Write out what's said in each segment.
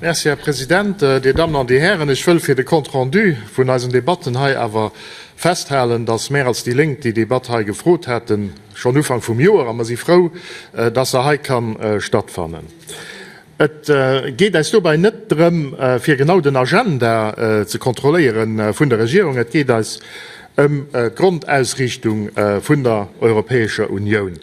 Merci, Här President. Dir Dammen an Dir Hären, ech wëll fir de Compte rendu vun eisen Debatten hei awer festhalen, dass mär als déi Lénk déi Debatt hei gefrot haten, schonn Ufank vum Joer, a mer si frou, dass se hei ka stattfannen. Et geet eis dobäi net drëm, fir genau den Agenda ze kontrolléiere vun der Regierung, et geet eis ëm d'Grondausriichtung vun der Europäescher Unioun.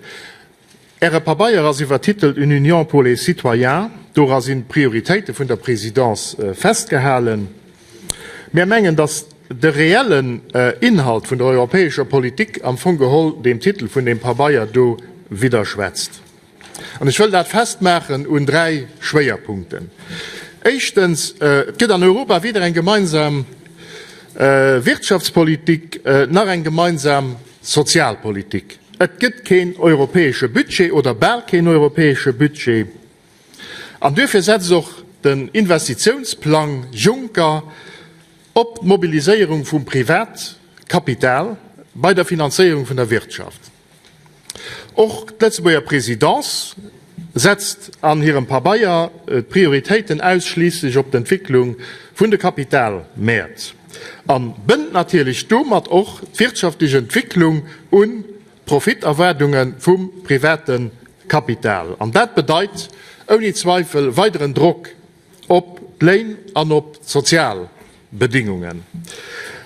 Äre Pabeier ass iwwertitelt Une Union pour les citoyens. Dora sinn d'Prioritéite vun der Présidence festgehalen. Mär mengen, dass de reellen Inhalt vun der europäescher Politik am Fong geholl deem Titel vun deem Pabeier do widderschwätzt. An ech wëll dat festmaachen un dräi Schwéierpunkten. Éischtens, et gëtt an Europa weder eng gemeinsam Wirtschaftspolitik nach eng gemeinsam Sozialpolitik. Et gëtt keen europäesche Budget oder bal keen europäesche Budget. An duerfir setzt och den Investitiounsplang Juncker op d'Mobiliséierung vum Privatkapital bei der Finanzéierung vun der Wirtschaft. Och d'Lëtzebuerger Présidence setzt an hirem Pabeier d'Prioritéiten ausschliisslech op d'Entwécklung vun de Kapitalmäert a bënnt natierlech domat och d'wirtschaftlech Entwécklung un d'Profiterwaardunge vum private Kapital. An dat bedeit ouni Zweifel weideren Drock. op d'Léin an op d'sozial Bedingungen.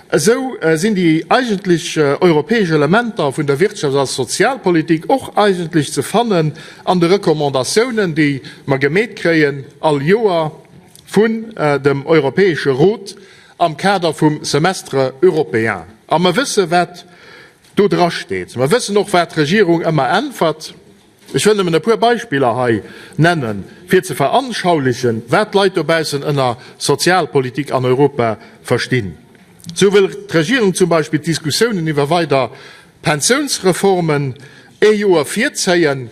Esou sinn déi eigentlech europäesch Elementer vun der Wirtschafts a Sozialpolitik och eigentlech ze fannen an de Recommandatiounen, déi mer gemeet kréien all Joer vun dem Europäesche Rot am Kader vum Semestre européen. A mer wëssen, wat do drasteet. Mer wëssen och, wat d'Regierung ëmmer äntwert. Ech wëll nëmmen e puer Beispiller hei nennen, fir ze veranschaulichen, wat d'Leit dobaussen ënner Sozialpolitik an Europa verstinn. Esou wëll d'Regierung zum Beispill d'Diskussiounen iwwer weider Pensiounsreformen ee Joer virzéien,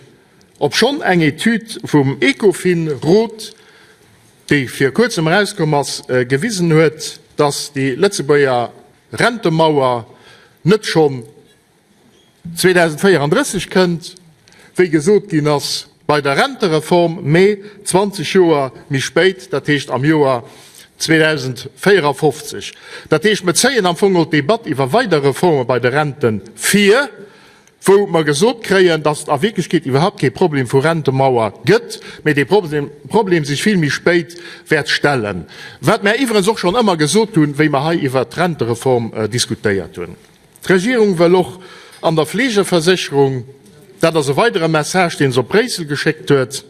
obschonn eng Etüd vum Ecofin-Rot, déi vir kuerzem erauskomm ass, gewisen huet, dass déi Lëtzebuerger Rentemauer net schonn 2034 kënnt, wéi gesot ginn ass, bei der Rentereform, mä 20 Joer méi spéit, dat heescht am Joer 2054. Dat heescht, mir zéien am Fong geholl d'Debatt iwwer weider Reforme bei de Renten vir, wou mer gesot kréien, dass et a Wierklechkeet iwwerhaupt kee Problem vu Rentemauer gëtt, mä dee Problem sech vill méi spéit wäert stellen. Wat mer iwwregens och schonn ëmmer gesot hunn, wéi mer hei iwwert d'Rentereform diskutéiert hunn. D'Regierung wëll och an der Fleegeversécherung, dat ass e weidere Message, deen se op Bréissel geschéckt huet,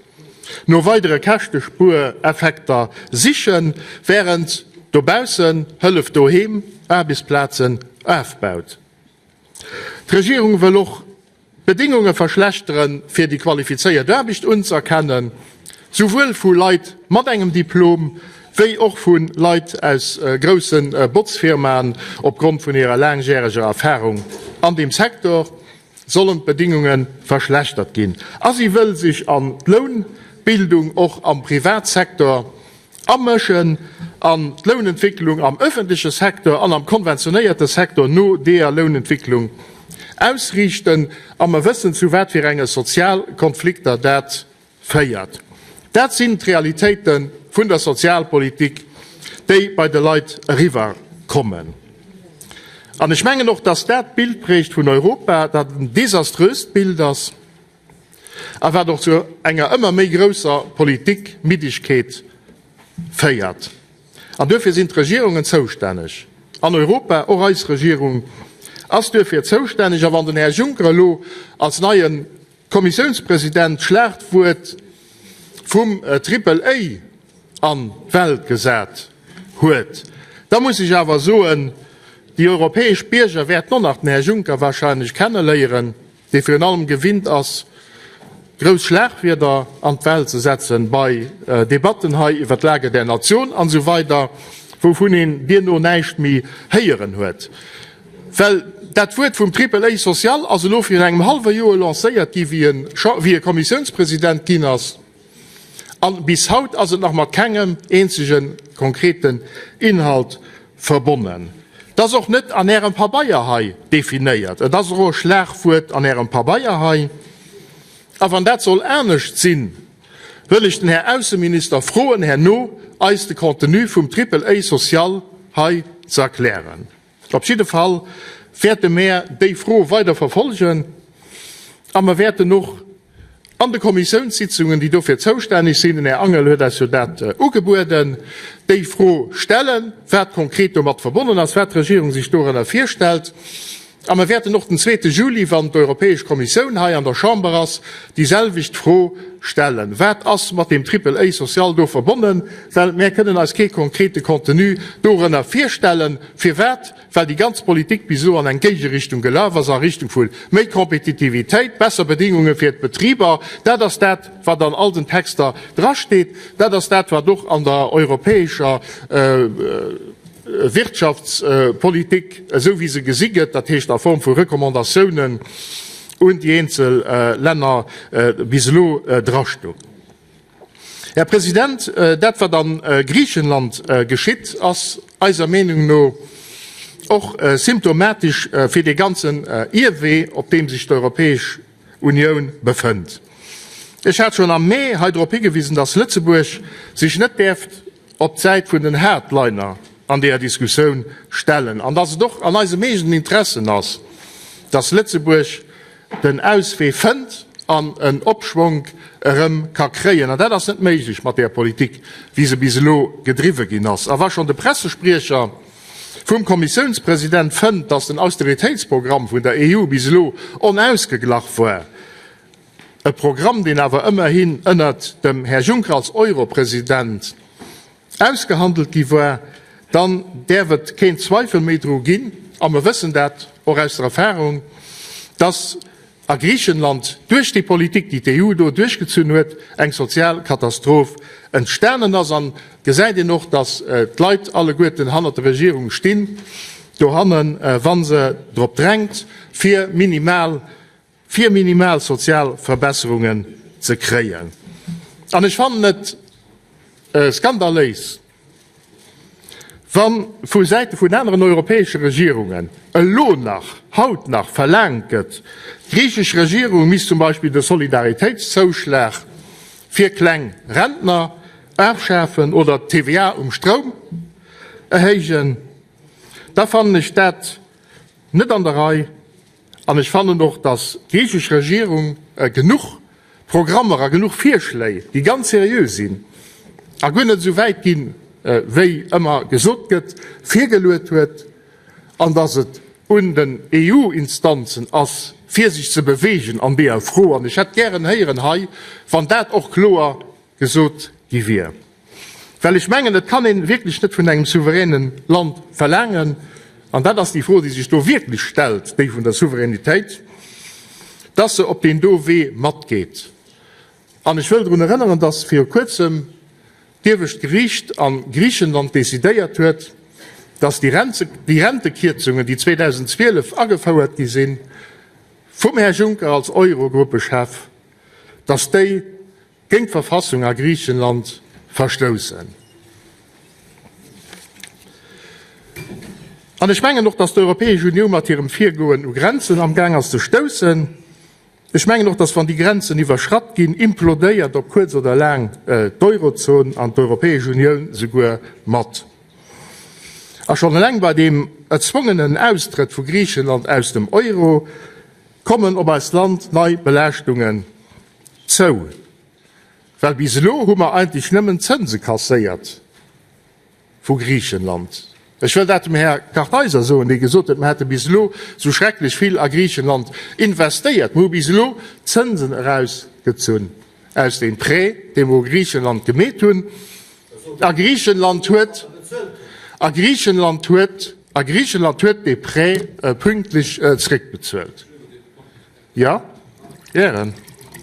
no weidere Käschtespuereffekter sichen, wärend dobaussen Hëllef doheem Aarbechtsplazen ofbaut. D'Regierung wëll och D'Bedingunge verschlechtere fir déi qualifizéiert Aarbecht unzëerkennen, souwuel vu Leit mat engem Diplom wéi och vu Leit aus grousse Botzfirmaen. Opgrond vun hirer laangjäreger Erfarung an deem Secteur sollen d'Bedingunge verschlechtert ginn a si wëll sech an d'Lounbildung och am Privatsecteur Amëschen an d'Lounentwécklung am öffentleche Secteur an am konventionéierte Secteur no deeër Lounentwécklung ausriichten, a mer wëssen zu wat fir enge Sozialkonflikter dat féiert. Dat sinn d'Realitéite vun der Sozialpolitik, déi bei de Leit eriwwer kommen. An ech mengen och, datt dat d'Bild prägt vun Europa, dat en desaströst Bild ass. a wat och zu enger ëmmer méi grousser Politikmiddegkeet féiert. An duerfir sinn d'Regierungen zoustänneg an Europa. Och eis Regierung ass duerfir zoustänneg. A wann den Här Juncker elo als neie Kommissiounspresident d'Schlaagdwuert vum Triple A an d'Welt gesat huet, da muss ech awer soen, déi europäesch Bierger wäerten och nach den Här Juncker wahrscheinlech kenneléieren. dee virun allem gewinnt ass, grouss Schlagwierder an d'Welt ze setzen bei Debatten hei iwwer d'Lage der Nation an esou weider, wouvun een duerno näischt méi héieren huet. Well dat Wuert vum Triple-A social ass elo virun engem hallwe Joer lancéiert gi wéi e Kommissiounspresident ginn ass. An bis haut ass et nach mat kengem eenzege konkreten Inhalt verbonnen. Et ass och net an Ärem Pabeier hei definéiert. Et ass och e Schlagwuert an Ärem Pabeier hei. A wann dat soll anescht sinn, wëll ech den Här Ausseminister froen, herno eis de Contenu vum Triple-A social hei ze erklären. Op jidde Fall wäerte mär déi Fro weider verfolgen a mer wäerten och an de Kommissiounssitzungen, déi dofir zoustänneg sinn, den Här Angel huet eis jo dat ugebueden, déi Fro stellen, wat konkret domat verbonnen ass, wat d'Regierung sech dorënner virstellt. A mer wäerten och den zweete Juli, wann d'Europäesch Kommissioun hei an der Chamber ass, déiselwecht Fro stellen, Wat ass mat deem Triple-A social do verbonnen? Well mär kënnen eis kee konkrete Contenu dorënner virstellen. Firwat? Well déi ganz Politik bis elo an eng Géigerichtung gelaf ass, a Richtung vu méi Kompetitivitéit, besser Bedingunge fir d'Betriber. Dat ass dat, wat an all den Texter drasteet. Dat ass dat, wat och an der europäescher Wirtschaftspolitik, esou wéi se gesi gëtt, dat heescht a Form vu Recommandatiounen un déi eenzel Länner, bis elo drastoung. Här President, dat, wat a Griichenland geschitt, ass eiser Meenung no och symptomatesch fir dee ganzen Ierwee, op deem sech d'Europäesch Unioun befënnt. Ech hat schonn am Mee hei drop higewisen, dass Lëtzebuerg sech net däerft op d'Säit vun den Hardliner an deeër Diskussioun stellen an dass et och an eisem eegenen Interessen ass, dass Lëtzebuerg den Auswee fënnt an en Opschwonk erëm ka kréien. An dat ass net méiglech mat deeër Politik, wéi se bis elo gedriwwe ginn ass. A wa schonn de Pressespriecher vum Kommissiounspresident fënnt, dass den Austeritéitsprogramm vun der EU bis elo onausgeglach war, E Programm, deen awer ëmmerhin ënnert dem Här Juncker als Euro-President ausgehandelt gi war, dann däerf et keen Zweifel méi dru ginn, a mer wëssen dat och aus der Erfahrung, dass a Griichenland duerch déi Politik, déi d'EU do duerchgezunn huet, eng sozial Katastroph entstanen ass. A gesäit een och, dass d'Leit alleguerten hannert der Regierung stinn, dohanne wa se drop drängt, fir minimal fir minimal sozial Verbesserungen ze kréien. An ech fannen et skandaléis, wa vu Säite vun aneren europäesche Regierungen elo nach, haut nach, verlaangt gëtt, d'griichesch Regierung misst zum Beispill de Solidaritéitszouschlag fir kleng Rentner afschafen oder d'TVA um Stroum erhéijen, da fannen ech dat net an der Rei. An ech fannen och, datt d'griichesch Regierung genuch Programmer a genuch Virschléi, déi ganz seriö sinn a guer net esou wäit ginn, wéi ëmmer gesot gëtt, virgeluet huet an datt et un den EU-Instanzen ass, fir sech ze beweegen an deeër Fro. An ech hätt gären héieren hei, wann dat och kloer gesot gi wier. Well ech mengen, et kann een wierklech net vun engem souveränen Land verlaangen, an dat ass déi Fro, déi sech do wierklech stellt, déi vun der Souveränitéit, dass se op deen do Wee matgeet. An ech wëll drun erënneren, dass viru Kuerzem d'Iewescht Geriicht a Griichenland decidéiert huet, dass déi Rentekierzungen, déi 2012 agefouert gi sinn vum Här Juncker als Eurogruppechef, dass déi, Géint d'Verfassung a Griichenland verstoussen. An ech mengen och, dass d'Europäesch Uniou mat hirem Virgoen u Grenzen amgaang ass ze stoussen. Ech mengen och, dass wann déi Grenzen iwwerschratt ginn, implodéiert op kuerz oder laang d'Eurozon an d'Europäesch Unioun souguer mat. A schonn eleng bei deem erzwongenen Austrëtt vu Griichenland aus dem Euro kommen op eist Land nei Belaaschtungen Zou, well bis elo hu mer eigentlech nëmmen Zënse kasséiert vu Griichenland. Ech wëll dat dem Här Kartheiser soen, dee gesot huet, mer hätte bis elo esou schrecklech vill a Griichenland investéiert. Mer hu bis elo Zënsen erausgezunn aus deem Prêt, dee mer u Griichenland gemeet hunn, a Griichenland huet, a Griichenland huet, a Griichenland huet dee Prêt pünktlech zrëckbezuelt. Jo, Ären.